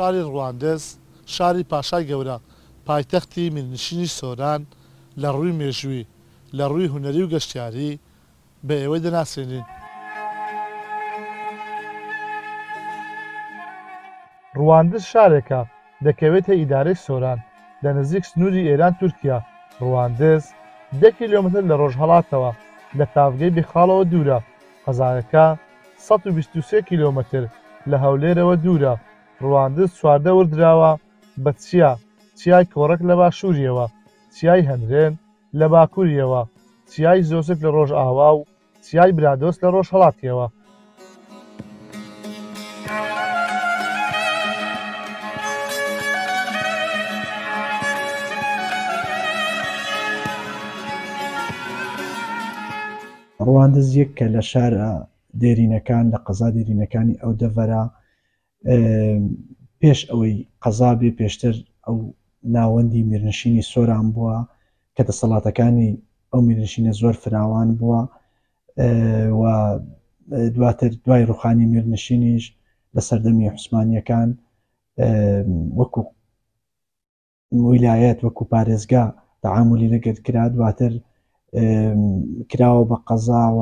شاری ڕواندز، شاری پاشای گەورە، پایتەختی میرنشینی سۆران، لە ڕووی مێژووی، لە ڕووی هونەری و گەشتیاری، بە ئێوەی دەناسێنین. ڕواندز شارێکە دەکەوێتە ئیدارەی سۆران، لە نزیک سنووری ئێران-تورکیا. ڕواندز دە کیلۆمەتر لە ڕۆژهەڵاتەوە لە تاڤگەی بێخاڵەوە دوورە. قەزایەکە سەد و بیست و سێ کیلۆمەتر لە هەولێرەوە دوورە. ڕواندز چواردەور دراوە بە چیا، چیای کۆڕەک لە باشووریەوە، چیای هەنرێن، لە باکوورییەوە، چیای زۆسک لە ڕۆژاوا و چیای برادۆست لە ڕۆژهەڵاتییەوە. ڕواندز یەککە لە شارە دێرینەکان لە قەزا دێرینەکانی ئەو دەڤەرە پێش ئەوەی قەزا بێ پێشتر ئەو ناوەندی میرنشینی سۆران بووە کە دەسەڵاتەکانی ئەو میرنشینە زۆر فراوان بووە و دواتر دوای ڕوخانی میرنشینیش لە سەردەمی حوسمانیەکان وەکو ویلایەت وەکو پارێزگا تەعامولی لەگەر کرا دواتر کراوە بە قەزا و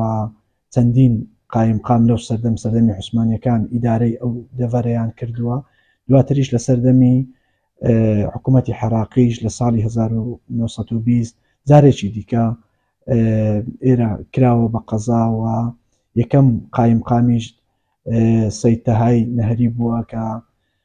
چەندین قایمقام لەو سەردەم سەردەمی عوسمانەکان ئیدارەی ئەو دەڤەرەیان کردووە دواتریش لە سەردەمی حکوومەتی حراقیش لە ساڵی 1920 جارێکی دیکە ئێرە کراوە بە قەزاوە یەکەم قایمقامیش سەیتەهای نەهری بووە کە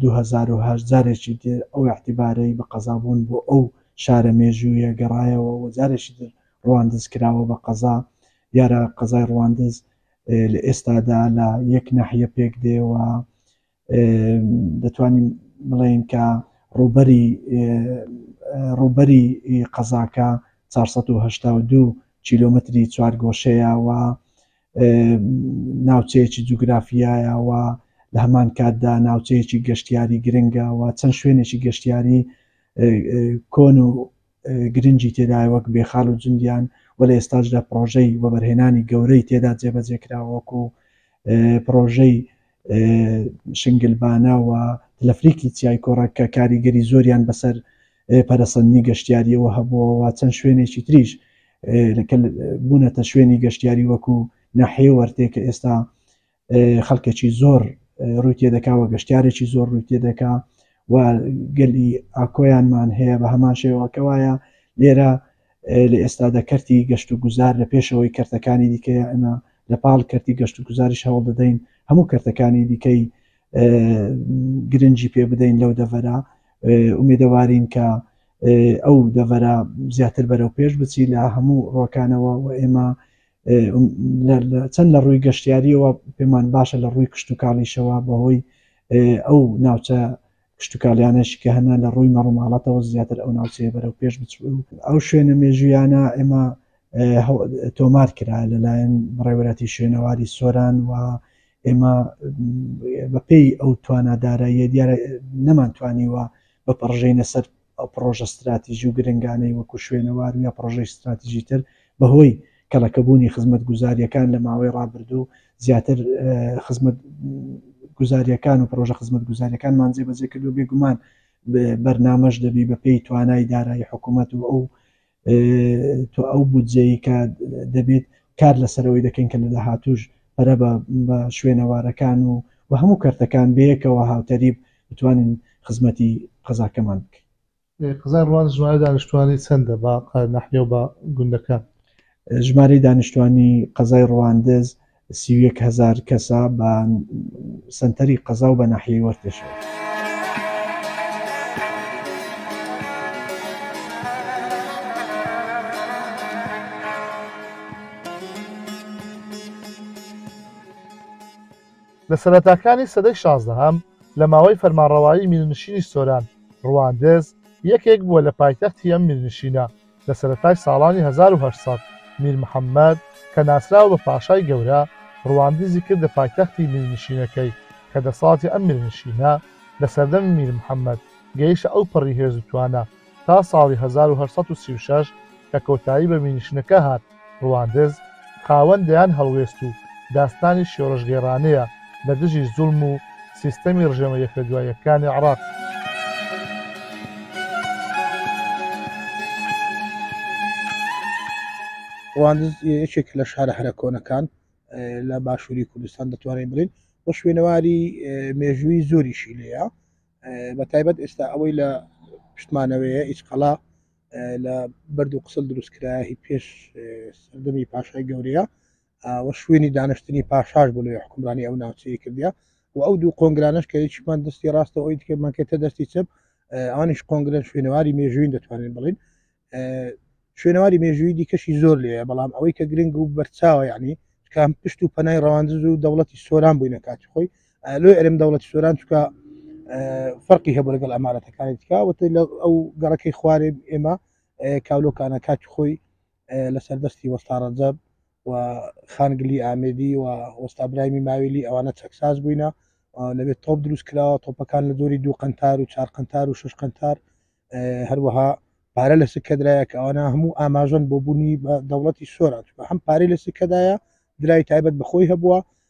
دوو هەزار و هەشت جارێکی تر ئەو اعتبارەی بە قەزابوون بۆ ئەو شارە مێژوویە گەڕایەوە و جارێکی تر ڕواندز کراوە بە قەزا دیارە قەزای ڕواندز لە ئێستادا لە یەک ناحیە پێک دێوە دەتوانین بڵێین کە ڕوبەری ڕوبەری قەزاکە 482 کیلومتری چوارگۆشەیە و ناوچەیەکی جوگرافیایەوە لە هەمان کاتدا ناوچەیەکی گەشتیاری گرنگەوە چەند شوێنێکی گەشتیاری کۆن و گرنگی تێدا وەک بێخال و جندیان و لە ئێستاشدا پرۆژەی وەبەرهێنانی گەورەی تێدا جێبەجێکراوەکو پرۆژەی شنگلبانە و تلفریکی چیای کۆڕەک کە کاریگەری زۆریان بەسەر پەرەسەندنی گەشتیاریەوە هەبووەوە چەند شوێنێکی تریش بوونەتە شوێنی گەشتیاری وەکو ناحێ وەرتێ کە ئێستا خەڵکێکی زۆر ڕووی تێدەکاوە گەشتارێکی زۆر ڕووی تێدەکا و گەلی ئاکۆیانمان هەیە بە هەمان شێوەکەوایە لێرە لە ئێستادا کەرتی گەشتوگوزار لە پێشەوەی کەرتەکانی دیکەیە، ئێمە لە پاڵ کەرتی گەشتوگوزاریش هەوڵ دەدەین هەموو کەرتەکانی دیکەی گرنگی پێ بدەین لەو دەڤەرە، ئومێدەوارین کە ئەو دەڤەرە زیاتر بەرەو پێش بچی لە هەموو ڕۆکانەوە و ئێمە چەند لە ڕووی گەشتیاریەوە پێمان باشە لە ڕووی کشتتوکاڵیشەوە بەهۆی ئەو ناوچە کشتوکالیانەش کە هەنا لە ڕووی مەڕوماڵاتەوە زیاتر ئەو ناوچەیە بەرەو پێش بچوو و ئەو شوێنە مێژوویانە ئێمە تۆمار کرا لەلایەن بەڕێوەراتی شوێنەواری سۆران و ئێمە بەپێی ئەو توانادارە یە دیارە نەمانتوانی وە بە پڕژینە سەر ئەو پڕۆژە ستراتیجی و گرنگانەی وەکو شوێنەوار و یا پڕۆژەی ستراتیجی تر بەهۆی کەڵەکەبوونی خزمەتگوزارییەکان لە ماوەی ڕابردوو زیاتر خزمەتگوزارییەکان و پڕۆژە خزمەتگوزارییەکانمان جێبەجێ کردو بێگومان بەرنامەش دەبی بەپێی توانای دارایی حکوومەت و ئەو تۆ ئەو بودجەی کە دەبێت کار لەسەرەوەی دەکەین کە لە داهاتوش پەرە بە شوێنەوارەکان و و هەموو کەرتەکان بەیەکەوە هاوتەریب بتوانین خزمەتی قەزاکەمان بکەین قزا ڕوان ژمارە دانیشتوانی چەندە بە نەحیەوە گوندەکە ژمارەی دانیشتوانی قەزای ڕواندز سی و یەک هەزار کەسە بە سەنتەری قەزا و بە ناحیەی وەرتێشەوە. لە سەرەتاکانی سەدەی شازدەهەم لە ماوەی فەرمانڕەوایی میرنشینی سۆران، ڕواندز، یەکێک بووە لە پایتەختی ئەم میرنشینە، لە سەرەتای ساڵانی هەزار و هەشت سەد میر محەمەد کە ناسراوە بە پاشای گەورە، ڕواندزی کردە پایتەختی میرنشینەکەی کە دەسەڵاتی ئەم میرنشینە لە سەردەمی میر محەمەد گەیشتە ئەو پەڕی هێز و توانا تا ساڵی هەزار و هەشت سەد و سی و شەش کە کۆتایی بە میرنشینەکە هات. ڕواندز خاوەن دەیان هەڵوێست و داستانی شۆڕشگێڕانەیە لە دژی زوڵم و سیستەمی ڕژێمە یەکەدوایەکانی عێڕاق. ڕواندز یەکێک لە شارە هەرە کۆنەکان لە باشووری کوردستان دەتوانین بڵین بۆ شوێنەواری مێژووی زۆریشی لێە بە تایبەت ئێستا ئەوەی لە پشتمانەوەیە ئیچقەڵا لە بەرد و قسل دروست کرایهی پێش سەردەمی پاشای گەورەیە و شوێنی دانیشتنی پاشاش بۆ لەوێ حکومرانی ئەو ناوچەیە کردیا و ئەو دوو قۆنگرانش کە یەکیمان دەستی ڕاستە ئەوی دیکەمان کێتە دەستی چپ ئەوانیش قۆنگرن شوێنەواری مێژوین دەتوانین بڵین شوێنەواری مێژووی دیکەشی زۆر لێ بەڵام ئەوەی کە گرنگ و بەرچاوە یعنی کام پشت و پەنای ڕەواندز و دەوڵەتی سۆران بووینە کاتی خۆی لۆی ئەرێم دەوڵەتی سۆران چکە فەرقی هەبوو لەگەڵ ئەمارەتەکانی تکا وتی لە ئەو گەڕەکەی خوارێ ئێمە کاولۆکانە کاتی خۆی لە سەردەستی وەستاڕەجەب و خانگلی ئامێدی و وەستا برایمی ماویلی ئەوانە چەکساز بووینە لەبێت تۆپ دروست کراوە تۆپەکان لە زۆری دوو قنتار و چار قنتار و شش قنتار هەروەها پارە لە سکەدرایە کە ئەوانە هەموو ئاماژن بۆ بوونی بە دەوڵەتی سۆران هەم پارەی لە سکەدایە درای تایبەت بەخۆی هەبووە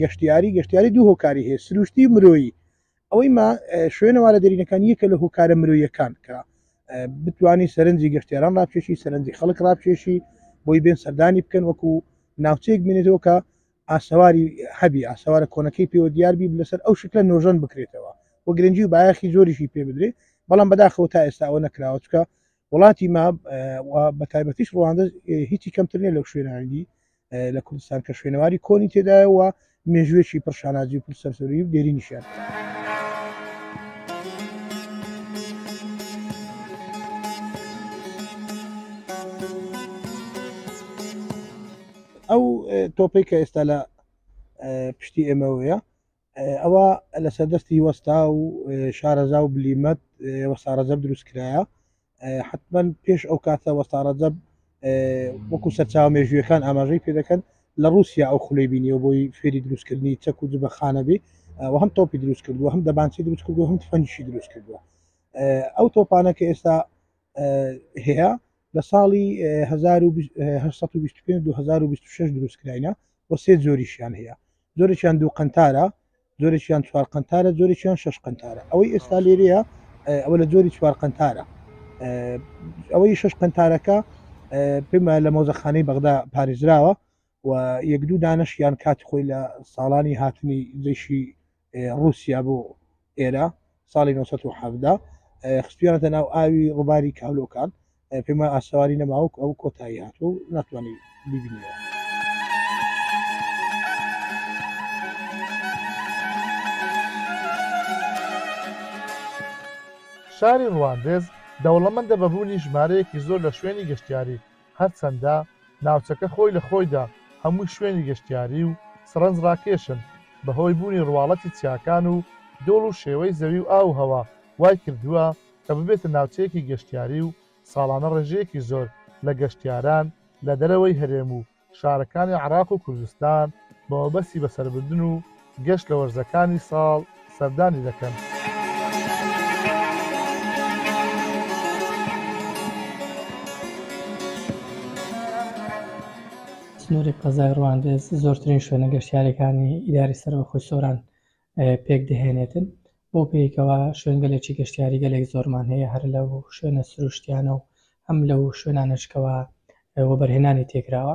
گەشتیاری گەشتیاری دوو هۆکاری هەیە سروشتی مرۆیی ئەوەی ما شوێنەوارە دەرینەکان یەکە لە هۆکارە مرۆیەکان کە بتانی سەرنجی گەشتێران ڕاپێشی سەرنجی خەڵک ڕاپێشی بۆی بێن سەردانی بکەن وەکو ناوچەیەک بینێتەوە کە ئاسەواری هەبی ئاسەوارە کۆنەکەی پێوە دیاربی لەسەر ئەو شکلە نۆژەن بکرێتەوە و گرنگجی و بایەخی زۆریشی پێ بدرێ بەڵام بەداخەوە تا ئێستا ئەوە نەکراوە چکە وڵاتی ما بە تایبەتیش ڕوانندە هیچی کەمترنێ لەو شوێنانگی لە کوردستان کە شوێنەواری کۆنی تێدایەوە مێژوێکی پرشانازی و پرسەرسەری و دێری نیشان. ئەو تۆپی کە ئێستا لە پشتی ئێمەوەیە ئەوە لەسەر دەستی وەستا و شارەزا و بلیمەت وەسارەزەب دروست کرایە حتمما پێش ئەو کاتە وەسارەزەب وەکو سەرچاو مێژویەکان ئاماژەی پێ دەکەن لە رووسیا ئەو خولەی بینیەوە بۆی فێری دروستکردنی چەک و جبەخانەبی و هەم تۆپی دروست کردو هەم دەبانچی دروست کردو هەم فەنشی دروست کردووە ئەو تۆپانە کە ئێستا هەیە لە ساڵی 1920 2026 دروستکراینە بۆ سێ زۆریشیان هەیە جۆرێکیان دوو قنتارە جۆرێکیان چوار قنتارە جۆرێکیان شش قنتارە ئەوەی ئێستا لێرەیە ئەوە لە جۆری چوار قنتارە ئەوەی شش قنتارەکە پێمە لە مۆزەخانەی بەغدا پارێزراوە و یەک دوو دانشیان کات خۆی لە ساڵانی هاتنی جیشی رووسیا بۆ ئێرە ساڵی نۆ سەد و حەڤدە خستویانەتە ناو ئاوی ڕوباری کالۆکان پێما ئاسەواری نەماوک ئەو کۆتایی هات و ناتوانانی بیبینەوە. شاری ڕواندز دەوڵەمەندە بە بوونی ژمارەیەکی زۆر لە شوێنی گەشتیاری، هەرچەندە ناوچەکە خۆی لە خۆیدا هەمووی شوێنی گەشتیاری و سەڕەنج ڕاکێشن، بەهۆی بوونی ڕواڵەتی چیاکان و دۆڵ و شێوەی زەوی و ئاو و هەوا وای کردووە کە ببێتە ناوچەیەکی گەشتیاری و ساڵانە ڕێژەیەکی زۆر لە گەشتیاران لە دەرەوەی هەرێم و شارەکانی عێراق و کوردستان بەمەبەستی بەسەربردن و گشت لە وەرزەکانی ساڵ سەردانی دەکەن. سنووری قەزای ڕواندز زۆرترین شوێنە گەشتیاریەکانی ئیداری سەربەخۆی سۆران پێک دەهێنێتن بۆ پێیکەوە شوێنگەلێکی گەشتیاری گەلێک زۆرمان هەیە هەر لە شوێنە سروشتیانە و هەم لەو شوێنانشکەوە وەبەرهێنانی تێکراوە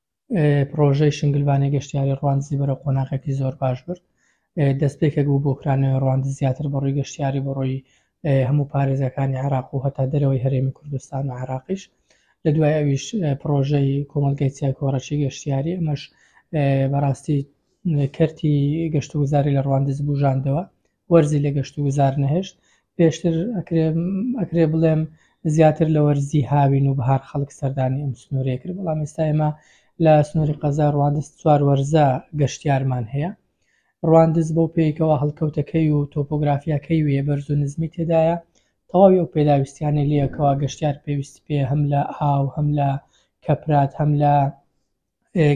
پڕۆژەی شنگلبانی گەشتیاری ڕواندزی بەرەو قۆناغێکی زۆر باش برد دەستپێکێک بوو بۆ کرانەوەی ڕواند زیاتر بەڕووی گەشتیاری بەڕووی هەموو پارێزەکانی عراق و هەتا دەرەوەی هەرێمی کوردستان و عراقیش لە دوای ئەویش پرۆژەی کۆمەلگای چای کۆڕەچی گەشتیاری ئەمەش بەڕاستی کەرتی گەشتوگوزاری لە ڕواندز بژاندەوە وەرزی لە گەشت و گوزار نەهێشت، پێشتر ئەکرێ بڵێم زیاتر لە وەرزی هاوین و بەهار خەڵک سەردانی ئەم سنوورەیە کرد، بەڵام ئێستا ئێمە لە سنووری قەزای ڕواندز چوار وەرزە گەشتیارمان هەیە. ڕواندز بەو پێیکەوە هەڵکەوتەکەی و تۆپۆگرافیاکەی وێ بەرز و نزمی تێدایە، تەواوی ئەو پێداویستیانەی لێیەکەوە گەشتیار پێویستی پێ هەم لە ئاو هەم لە کەپرات هەم لە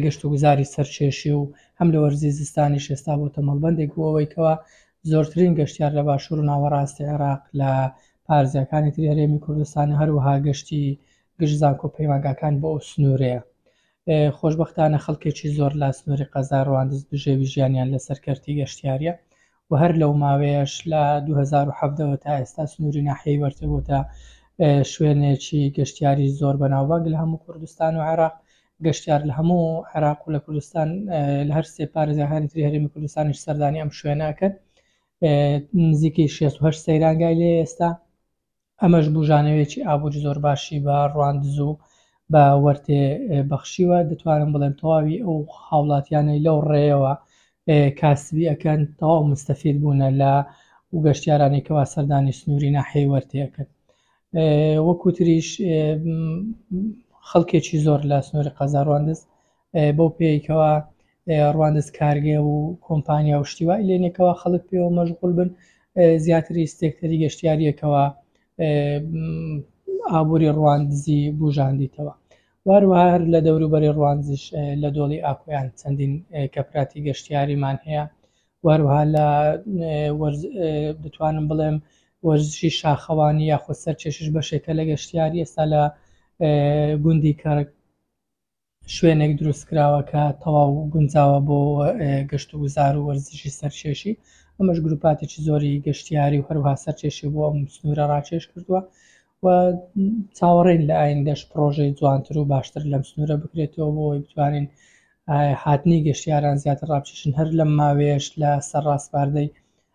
گەشتوگوزاری سەرکێشی و هەم لە وەرزی زستانیش ئێستا بۆتە مەڵبەندێک بۆ ئەوەی کەوا زۆرترین گەشتیار لە باشوور و ناوەڕاستی عێراق لە پارێزگاکانی تری هەرێمی کوردستان و هەروەها گەشتی گشت زانکۆ پەیمانگاکان بۆ ئەو سنوورەیە خۆشببختانە خەڵکێکی زۆر لا سنووری قەزا ڕواندز بژێوی ژیانیان لەسەر کەرتی گەشتیاریە و هەر لەو ماوەیەش لە دوو هەزار و حەڤدە وە تا ئێستا سنووری ناحیەی وەرتە بۆتە شوێنێکی گەشتیاری زۆر بەناوبانگ لە هەموو کوردستان و عێراق گەشتیار لە هەموو عێراق و لە کوردستان لە هەر سێ پارێزگاکانی تری هەرێمی کوردستانیش سەردانی ئەم شوێنە ئەکەن نزیکەی شێست و هەشت سەیرانگای لێ ئێستا ئەمەش بوژانەوەیەکی ئابوری زۆر باشی بە رواندز و بە وەرتێ بەخشیوە، دەتوانم بڵێم تەواوی ئەو هاوڵاتیانەی لەو ڕێیەوە کاسبی ئەکەن تەواو مستەفید بوونە لە و گەشتیارانی کەوا سەردانی سنووری ناحیەی وەرتێ ئەکەن. وەکوتریش خەڵکێکی زۆر لە سنووری قەزا رواندز بەو پێی کەوا ڕواندز کارگێ و کۆمپانیا و شتی وای لێنێکەوە خەڵک پێوە مەشغول بن زیاتری ستێکتەری گەشتیاریەکەوە ئابووری ڕواندزی بژاندیتەوە واروها هەر لە دەوروبەری ڕوانزیش لە دۆڵی ئاکۆیان چەندین کەپراتی گەشتیاریمان هەیە واروها لە بتوانم بڵێم وەرزشی شاخەوانی یاخود سەر چێشش بەشێکە لە گەشتیاری ئێستا لە گوندی کەرک شوێنێک دروست کراوە کە تەواو گونجاوە بۆ گەشت و گوزار و وەرزشی سەرچێشی ئەمەش گروپاتێکی زۆری گەشتیاری و هەروها سەرچێشی بۆ ئەم سنوورە ڕاکێش کردووە و چاوەڕێن لە ئایندەش پرۆژەی جوانتر و باشتر لەم سنوورە بکرێتەوە بۆی بتوانین هاتنی گەشتیاران زیاتر ڕاپچشن هەر لەم ماوێش لە سەر ڕاستپاردەی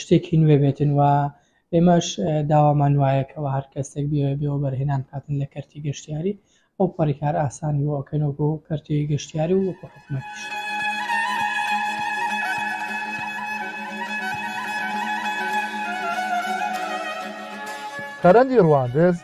شتێکی نوێ بێتن و ئێمەش داوامان وایە کەەوە هەر کەسێک بێ بێەوە بەرهێنان کاتن لە کەرتی گەشتیاری ئەو پەڕیکار ئاسانی بۆکەنەوە بۆ کەرتی گەشتیاری و وەکو حکومەتیش. تەرەندی ڕواندز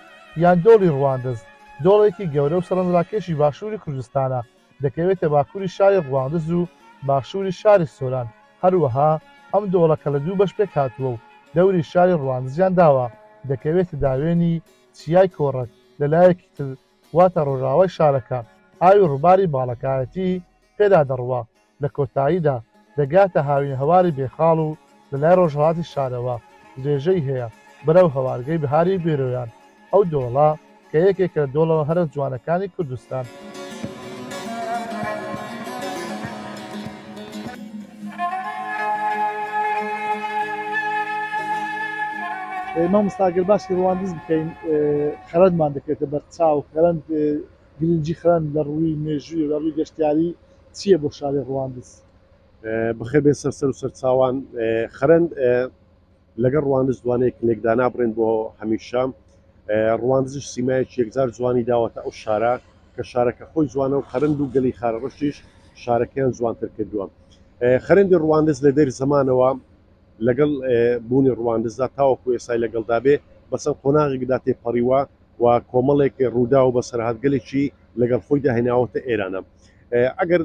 یان دۆڵی ڕواندز دۆڵێکی گەورە و سەرنجڕاکێشی باشووری کوردستانە دەکەوێتە باکووری شاری ڕواندز و باشووری شاری سۆران، هەروەها ئەم دۆڵەکە لە دوو بەش پێکهاتووە و دەوری شاری ڕواندزیان داوە، دەکەوێتە داوێنی چیای کۆڕەک، لە لایەکی تر واتە ڕۆژاوای شارەکە ئاوی ڕووباری باڵەکایەتی پێدا دەڕوا، لە کۆتاییدا، دەگاتە هاوین هەواری بێخاڵ و لە لای ڕۆژهەڵاتی شارەوە درێژەی هەیە بەرەو هەوارگەی بەهاری بێرۆیان، ئەو دۆڵە کە یەکێکە لە دۆڵە هەرە جوانەکانی کوردستان. مامۆستا گەر باسی ڕواندز بکەین خەرەندمان دەکەوێتە بەر چاو خەرەند. گرنگی خەرەند لە ڕووی مێژووی و لە ڕووی گەشتیاری چییە بۆ شاری ڕواندز؟ بەخێر بێن سەر سەر و سەر چاوان. خەرەند لەگەڵ ڕواندز دوانەیەکن لێک دانابڕێن بۆ هەمیشە. ڕواندزیش سیمایەکی یەکجار جوانی داوەتە ئەو شارە کە شارەکە خۆی جوانە و خەرەند و گەلی خارەڕەشیش شارەکەیان جوانتر کردووە. خەرەندی ڕواندز لە دێر زەمانەوە لەگەڵ بوونی ڕواندزدا تاوەکو ئێستای لەگەڵدا بێ بە چەند قۆناغێکدا تێپەڕیوە و کۆمەڵێک ڕووداو بەسەرهاتگەلێکی لەگەڵ خۆیدا هێناوەتە ئێرانە ئەگەر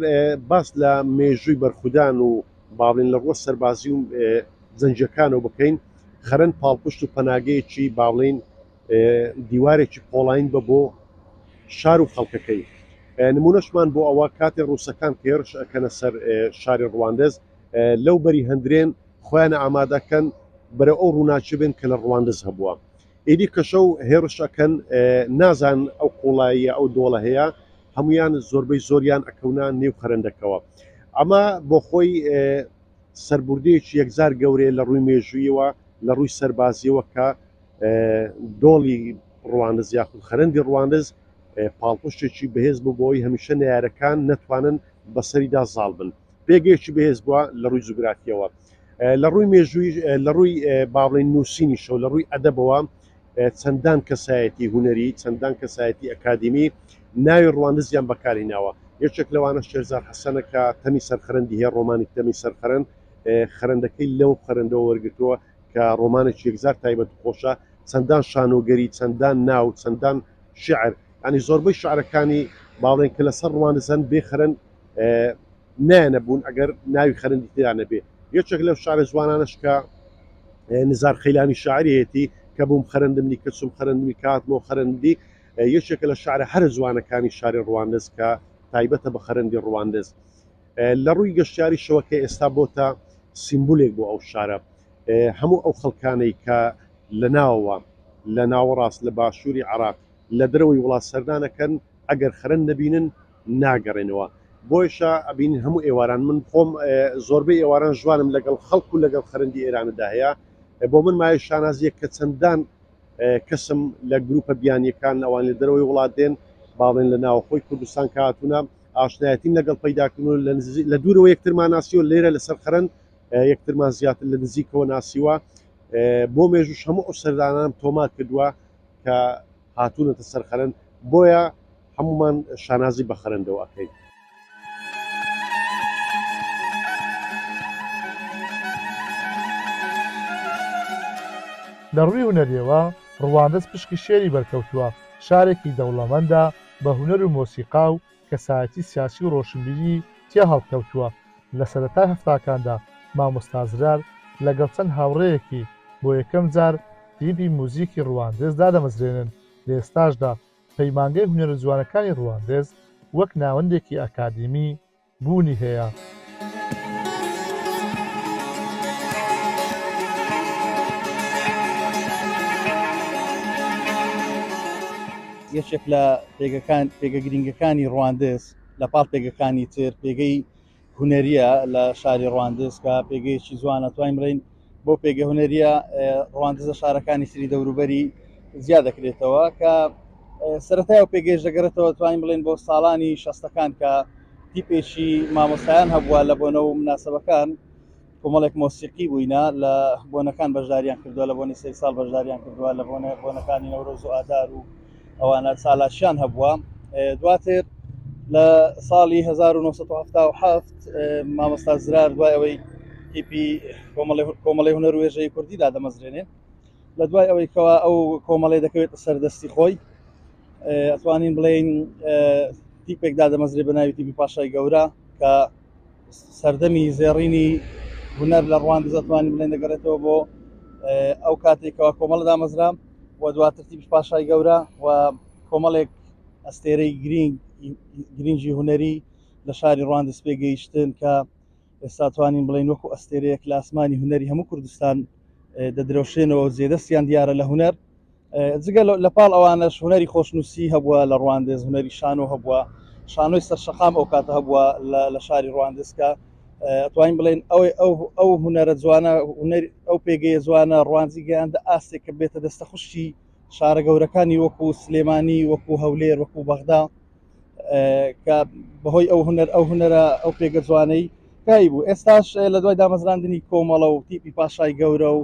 باس لە مێژووی بەرخودان و باڵێن لە ڕوە سەربازی و زەنجەکانەوە بکەین خەرەن پاڵپشت و پەناگەیەکی باڵین دیوارێکی پۆڵین بە بۆ شار و خەڵکەکەی نمونەشمان بۆ ئەوە کاتێ ڕووسەکان تێرش ئەکەنە سەر شاری ڕواندز لەو بەری هەندرێن خۆیان ئامادەکەن بەرە ئەو ڕووناچ بێن کە لە ڕواندز هەبووە ئیدی کەشەو هێڕش ئەکەن نازان ئەو قوڵاییە ئەو دۆڵە هەیە هەمویان زۆربەی زۆریان ئەکەونە نێو خەرەندەکەوە ئەمە بۆخۆی سەربردەیەکی یەکجار گەورەیە لە ڕووی مێژوویەوە لە ڕووی سەربازیەوە کە دۆڵی ڕوانز یاخود خەرندی ڕوانز پاڵپشتێکی بەهێز بوو بۆی هەمیشە نارەکان نەتوانن بەسەریدا زاڵ بن پێگەیەکی بەهێز بووە لە ڕووی جوگرافیەوە لە ڕووی مێژووی لە ڕووی باڵێن نووسینی شەو لە ڕووی ئەدەبەوە چەندان کەسایەتی هوەری چەندان کەسایەتی ئەکادیمی ناوی ڕواندزیان بەکاری ناوە یەکێک لەوانە شێرزار حەسەنەکە تەمی سەرخەرندی هەیە ڕۆمانی تەمی سەرخەرند خەرندەکەی لەو خەرندەوە وەرگتووە کە ڕۆمانێک یەکزار تایبەت خۆشە چەندان شانۆگەری چەندان ناو چەندان شعر ینی زۆربەی شعرەکانی باڵێن کە لەسەر ڕوانزەن بێخەرن نایەنە بوون ئەگەر ناوی خەرندی تێدا نەبێ یەکێک لەو شارە جوانانش کە نزار خەیلانی شاعرەتی کە بووم خەرندنی کەچم خەرندنی کات بۆ خەرندی یەکێکە لە شارە هەرە جوانەکانی شاری ڕواندز کە تایبەتە بە خەرندی ڕواندز لە ڕووی گەشتیاری شەوەکە ئێستا بۆتە سیمبولێک بۆ ئەو شارە هەموو ئەو خەڵکانەی کە لە ناوە لە ناوەڕاست لە باشووری عراق لە درەوەی وڵات سەردانەکەن ئەگەر خەرەند نەبینن ناگەڕێنەوە بۆیشە ئەبینین هەموو ئێواران من خۆم زۆربەی ئێواران ژوانم لەگەڵ خەڵک و لەگەڵ خەرندی ئێراندا هەیە بۆ من مایە شانازیە کە چەندان کەسم لە گروپە بیانیەکان ئەوان لە دەرەوەی وڵات دێن باڵێن لە ناوەخۆی کوردستان کاتونە ئاشنایەتیم لەگەڵ پیداکردن و لە دوورەوە یەکترمان ناسیوە لێرە لەسەر خەرند یەکترمان زیاتر لە نزیکەوە ناسیوە بۆ مێژوش هەموو ئەو سەردانان تۆمار کردووە کە هاتوونەتە سەر خەرەند، بۆیە هەموومان شانازی بە خەرەندەوە ئەکەین. لە ڕووی هونەرییەوە ڕواندز پشکی شێری بەرکەوتووە، شارێکی دەوڵەمەندە بە هونەر و مۆسیقا و، کەسایەتی سیاسی و ڕۆشنبیری تیا هەڵکەوتووە، لە سەرەتای هەفتاکاندا مامۆستا زرار لەگەڵ چەند هاوڕێیەکی بۆ یەکەم جار تیپی موزیکی ڕواندز دادەمەزرێنن، لە ئێستاشدا پەیمانگەی هونەرە جوانەکانی ڕواندز وەک ناوەندێکی ئەکادیمی بوونی هەیە. یەکێک لە پێگەکان پێگە گرینگەکانی ڕواندز لە پاڵ پێگەکانی تر پێگەی هونەریە لە شاری ڕواندز کە پێگەیەکی جوانە توانین بڵین بۆ پێگە هونەریە ڕواندزە شارەکانی سری دەوروبەری زیا دەکرێتەوە کە سەرەتای و پێگەش دەگەڕێتەوە توانین بڵێن بۆ ساڵانی شەستەکان کە تیپێکی مامۆستایان هەبووە لە بۆنەوە مناسبەکان کۆمەڵێک مۆسیقی بووینە لە بۆنەکان بەشداریان کردووە لە بۆنی سەری ساڵ بەشداریان کردووە لە بۆنە بۆنەکانی نەورۆز و ئادار و ئەوانە چالاکیان هەبووە دواتر لە ساڵی 1970 مامۆستا زرار دوای ئەوەی تیپی کۆمەڵی هونەر وێژەی کوردی دادەمەزرێنێ لە دوای ئەوەی کەوا ئەو کۆمەڵی دەکەوێت سەردەستی خۆی ئەتوانین بڵێین تیپێک دادەمەزرێ بە ناوی تیپی پاشای گەورە کە سەردەمی زێڕینی هونەر لە ڕواندز ئەتوانین بڵێن دەگەڕێتەوە بۆ ئەو کاتێکەوە کۆمەڵ دامەزرا و دواتر تیبش پاشای گەورە و کۆمەڵێک ئەستێرەی گرینگ گرنگی هونەری لە شاری ڕواندز پێگەیشتن کە ئێستا توانین بڵین وەکو ئەستێرەیەک لە ئاسمانی هونەری هەموو کوردستان دەدرەوشێنەوە زێدەستیان دیارە لە هونەر جگە لە پاڵ ئەوانەش هوەری خۆشنووسی هەبووە لە ڕواندز هوەری شانۆ هەبووە شانۆی سەر شەقام ئەو کاتە هەبووە لە شاری ڕواندزکە توانین بڵێن ئەوەی ئەو ئەو هوەرە جوانە ئەو پێگەیە جوانە ڕوانزی گەیاندە ئاستێک کە بێتە دەستە خوشتی شارە گەورەکانی وەکو سلێمانی وەکو هەولێر وەکو بەغدا کە بەهۆی ئەو هوەر ئەو هوەرە ئەو پێگە جوانەی کای بوو ئێستاش لە دوای دامەزراندنی کۆمەڵە و تیپی پاشای گەورە و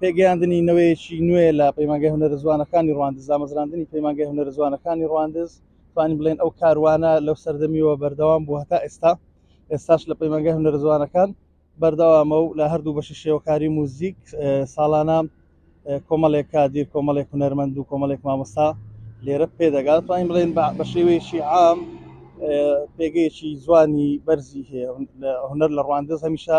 پێگەیاندنی نەوەیەکی نوێ لە پەیمانگەی هونەرە جوانەکانی ڕواندز دامەزراندنی پەیمانگەی هونەرە جوانەکانی ڕواندز توانین بڵێن ئەو کاروانە لەو سەردەمیەوە بەردەوام بوو هەتا ئێستا ئێستاش لە پەیمانگەی هونەرە جوانەکان بەردەوامە و لە هەردوو بەشی شێوەکاری موزیک ساڵانە کۆمەڵێک کادیر کۆمەڵێک هونەرمەند و کۆمەڵێک مامۆستا لێرە پێدەگات توانین بڵێن بە شێوەیەکی عام پێگەیەکی جوانی بەرزی هەیە هونەر لە ڕواندز هەمیشە